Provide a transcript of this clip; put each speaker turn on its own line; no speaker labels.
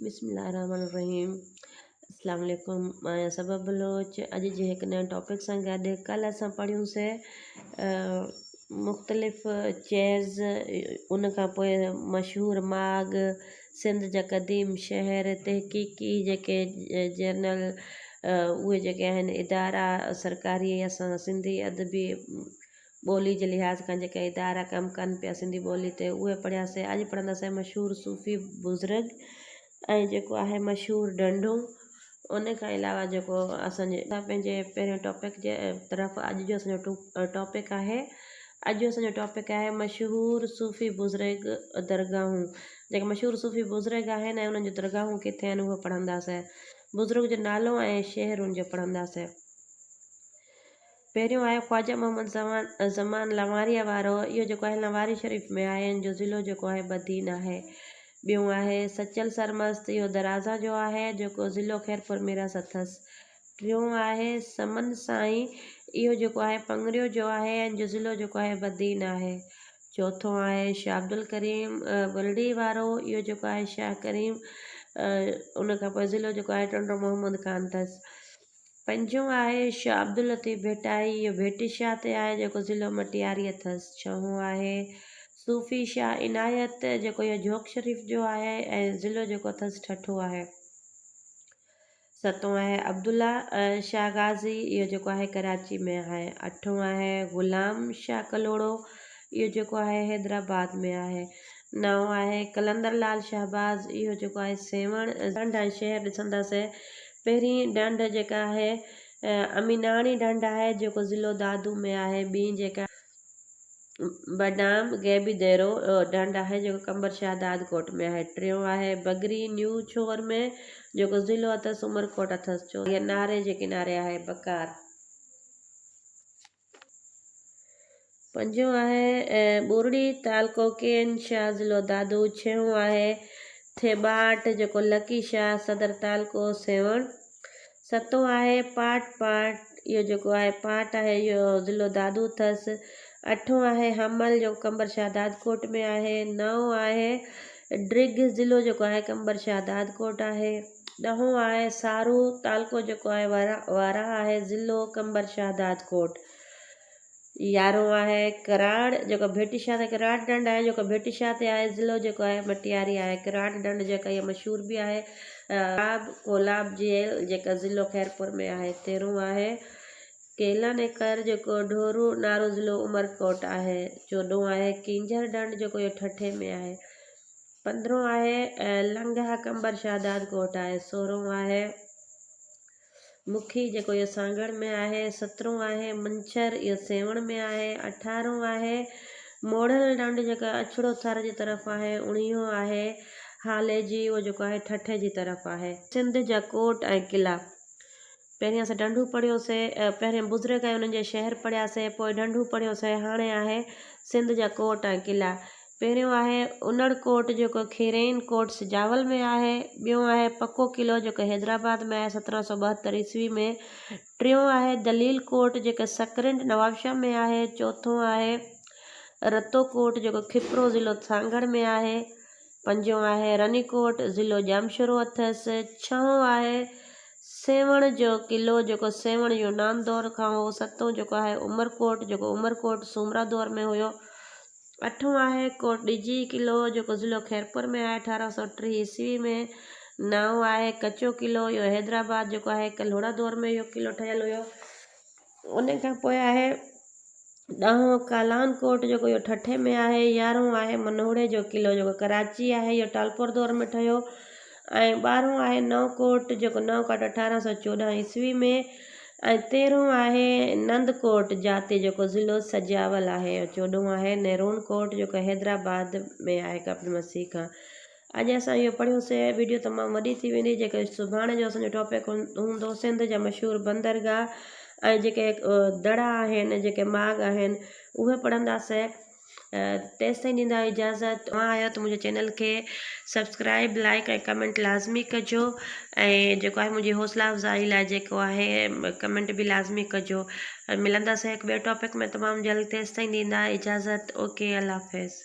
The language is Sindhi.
بسم الله الرحمٰن الرحيم اسلام عليڪم مان آهيان صبا بلوچ اڄ جي هڪ نئين ٽاپڪ سان گڏ ڪلهه اسان پڙهيون سي مختلف چيز ان کان پوء مشهور ماڳ سنڌ جا قديم شهر تحقيقي جيڪي جرنل اهي جيڪي آهن ادارا سرڪاري اسان سنڌي ادبي ٻولي جي لحاظ کان جيڪي ادارا ڪم ڪن پيا سنڌي ٻولي تي اهي پڙهيا سي اڄ پڙهنداسين مشهور صوفي بزرگ ۽ جيڪو آهي مشهور ڍنڍون ان کان علاوه جيڪو اسان جي پنهنجي پهرين ٽاپڪ جي طرف اڄ جو اسان جو ٽاپڪ آهي اڄ جو اسان جو ٽاپڪ آهي مشهور صوفي بزرگ درگاهون جيڪي مشهور صوفي بزرگ آهن ۽ انهن جون درگاهون ڪٿي آهن اهو پڙهنداسين بزرگ جو نالو ۽ شهر ان جو پڙهنداسين پهريون آهي خواجه محمد زمان لنواريء وارو، اهو جيڪو آهي لنواري شريف ۾ آهي، ان جو ضلعو جيڪو آهي بدين آهي. ٻيون آهي سچل سرمست، اهو درازان جو آهي، جيڪو ضلعو خيرپور ميراث اٿس. ٽيون آهي سمن سائين، اهو جيڪو آهي پڱريو جو آهي، ان جو ضلعو جيڪو آهي بدين آهي. چوٿون آهي شاهه عبدالڪريم ٻرڙي وارو، اهو جيڪو آهي شاهه ڪريم، ان کان پوء ضلعو جيڪو آهي ٽنڊو محمد خان اٿس. پنجون آهي شاهه عبداللطيف ڀٽائي، اهو ڀٽي شاهه تي آهي جيڪو ضلعو مٽياري اٿس. ڇهون آهي صوفي شاهه عنايت جيڪو اهو جوڪ شريف جو آهي ۽ ضلعو جيڪو اٿس ٺٽو آهي. ستون آهي عبدالله شاهه غازي، اهو جيڪو آهي ڪراچي ۾ آهي. اٺون آهي غلام شاهه ڪلهوڙو، اهو جيڪو آهي حيدرآباد ۾ آهي. نئون آهي قلندر لال شهباز اهو جيڪو آهي سيوهڻ ڍنڍ ۽ شهر ڏسنداسين پهرين ڍنڍ جيڪا آهي اميناڻي ڍنڍ آهي جيڪو ضلعو دادو ۾ آهي ٻين جيڪا بڊام غيبي ديرو ڍنڍ آهي جيڪو قمبر شاهه داد ڪوٽ ۾ آهي ٽيون آهي بگري نيو ڇور ۾ جيڪو ضلعو اٿس عمرڪوٽ اٿس چوٿون آهي ناري جي ڪناري آهي بڪار. پنجون آهي ۽ ٻورڙي تعلقو ڪين شاهه ضلعو دادو ڇهون آهي ٿيٻاٽ جيڪو لڪي شاهه صدر تعلقو سيوهڻ ستون آهي پاٽ پاٽ اهو جيڪو آهي پاٽ آهي اهو ضلعو دادو اٿس اٺون آهي حمل جيڪو قمبر شاهه دادڪوٽ ۾ آهي نئون آهي ڊرگهه ضلعو جيڪو آهي قمبر شاهه دادڪوٽ آهي ڏهون آهي سارو، تعلقو جيڪو آهي وارهه آهي، ضلعو قمبر شهدادڪوٽ، يارهون آهي ڪراڙ جيڪو ڀٽي شاهه تي ڪراڙ ڍنڍ آهي جيڪو ڀٽي شاهه تي آهي، ضلعو جيڪو آهي مٽياري آهي، ڪراڙ ڍنڍ جيڪا اها مشهور به آهي ڪولاب ڪولاب جيل جيڪا ضلعو خيرپور ۾ آهي، تيرهون آهي ڪيلن ايڪر جيڪو ڍورو نارو ضلعو عمرڪوٽ آهي، چوڏهون آهي ڪينجهر ڍنڍ جيڪو اهو ٺٽي ۾ آهي. پندرهون آهي لنگهه قمبر شهداد ڪوٽ آهي سورهون آهي مکي جيڪو اهو سانگهڙ ۾ آهي سترهون آهي منڇر اهو سيوهڻ ۾ آهي اٺارهون آهي موڙهل ڍنڍ جيڪا اڇڙو ٿر جي طرف آهي اڻيهون آهي هاليجي اهو جيڪو آهي ٺٺي جي طرف آهي. سنڌ جا ڪوٽ ۽ قلعا پهرين اسين ڍنڍون پڙهيو سي پهرين بزرگ ۽ انهن جا شهر پڙهيا سي پوء ڍنڍون پڙهيو سي هاڻي آهي سنڌ جا ڪوٽ ۽ قلعا پهريون آهي انڙ ڪوٽ جيڪو کيرين ڪوٽ سجاول ۾ آهي، ٻيون آهي پڪو قلعو جيڪو حيدرآباد ۾ آهي سترهن سؤ ٻاهتر عيسوي ۾، ٽيون آهي دليل ڪوٽ جيڪو سڪرنڊ نوابشاهه ۾ آهي، چوٿون آهي رتو ڪوٽ جيڪو کپرو ضلعو سانگهڙ ۾ آهي، پنجون آهي رني ڪوٽ ضلعو ڄامشورو اٿس، ڇهون آهي سيوهڻ جو قلعو جيڪو سيوهڻ يونان دور کان هو، ستون جيڪو آهي عمر ڪوٽ جيڪو عمر ڪوٽ سومرا دور ۾ هيو، اٺون آهي ڪوٽ ڏجي قلعو جيڪو ضلعو خيرپور ۾ آهي اٺارهن سؤ ٽيهه عيسوي ۾ نائون آهي ڪچو قلعو اهو حيدرآباد جيڪو آهي هڪ لوڙهه دور ۾ اهو قلعو ٺهيل هيو ان کان پوء آهي ڏهون ڪالان ڪوٽ جيڪو اهو ٺٺي ۾ آهي يارهون آهي منهوڙي جو قلعو جيڪو ڪراچي آهي اهو ٽالپور دور ۾ ٺهيو ۽ ٻارهون آهي نئون ڪوٽ جيڪو نئون ڪوٽ اٺارهن سؤ چوڏهن عيسوي ۾ ۽ تيرهون آهي نند ڪوٽ جاتي جيڪو ضلعو سجاول آهي ۽ چوڏهون آهي نيرون ڪوٽ جيڪو حيدرآباد ۾ آهي ڪپٽ مسيح کان اڄ اسان اهو پڙهيون سي ويڊيو تمام وڏي ٿي ويندي جيڪي سڀاڻي جو اسان جو ٽاپڪ هوندو سنڌ جا مشهور بندرگاهه ۽ جيڪي دڙا آهن جيڪي ماڳ آهن اهي پڙهنداسي تيستائين ڏيندايو اجازت اوهان آهيو ته منهنجي چينل کي سبسڪرائب لائڪ ۽ ڪمينٽ لازمي ڪجو ۽ جيڪو آهي منهنجي حوصلا افزائي لاء جيڪو آهي ڪمينٽ به لازمي ڪجو ملنداسين هڪ ٻئي ٽاپڪ ۾ تمام جلد تيستائين ڏيندا اجازت اوڪي الله حافظ